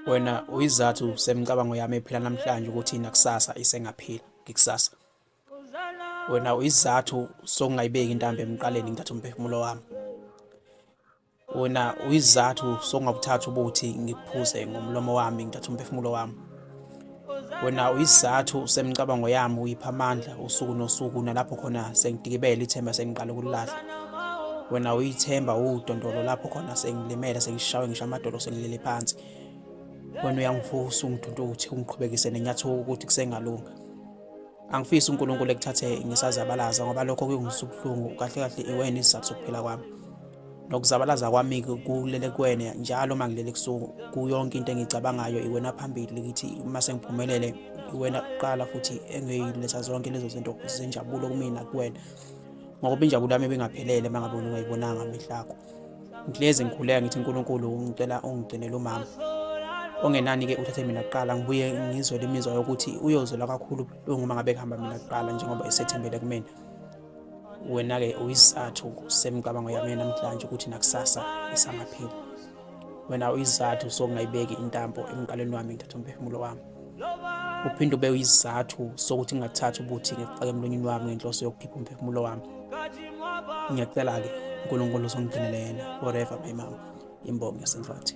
wena uyizathu semicabango yami ephila namhlanje ukuthi nakusasa isengaphila ngikusasa wena uyizathu sokungayibeki intambo emqaleni ngithatha umphefumulo wami wena uyizathu sokungabuthatha ubuthi ngiphuze ngomlomo wami ngithatha umphefumulo wami wena uyisizathu semicabango yami uyipha amandla usuku nosuku nalapho khona sengidikibele ithemba sengiqala ukulilahla wena uyithemba udondolo lapho khona sengilimele sengishawe ngisho amadolo sengilele phansi wena uyangivusa ungidonto ukuthi ungiqhubekise nenyathuko ukuthi kusengalunga angifisi uNkulunkulu ekuthathe ngisazabalaza ngoba lokho kuyongisubuhlungu kahle kahle iwena isizathu sokuphila kwami nokuzabalaza kwami kulelekweni njalo uma ngilele ebusuku kuyonke into engiyicabangayo iwena phambili likithi uma sengiphumelele iwena kuqala futhi engiyiletha zonke lezo zinto zenjabulo kumina kuwena ngoba injabulo yami ibingaphelele uma ngabe ungayibonanga amehlo akho ngihlezi ngikhuleka ngithi unkulunkulu ngicela ungigcinele umama ongenani-ke uthathe mina kuqala ngibuye ngizwe le mizwa yokuthi uyozola kakhulu uma ngabe kuhamba mina kuqala njengoba esethembele kumina wena-ke uyisizathu semicabango yami namhlanje ukuthi nakusasa isangapheli wena uyisizathu sokungayibeki intambo emqaleni wami ngithatha umphefumulo wami uphinde ube uyisizathu sokuthi ngingathathi ubuthi ngifake emlonyeni wami ngenhloso yokukhipha umphefumulo wami ngiyacela-ke unkulunkulu uzongigcinele yena forever my mama imbongi yasenhlathi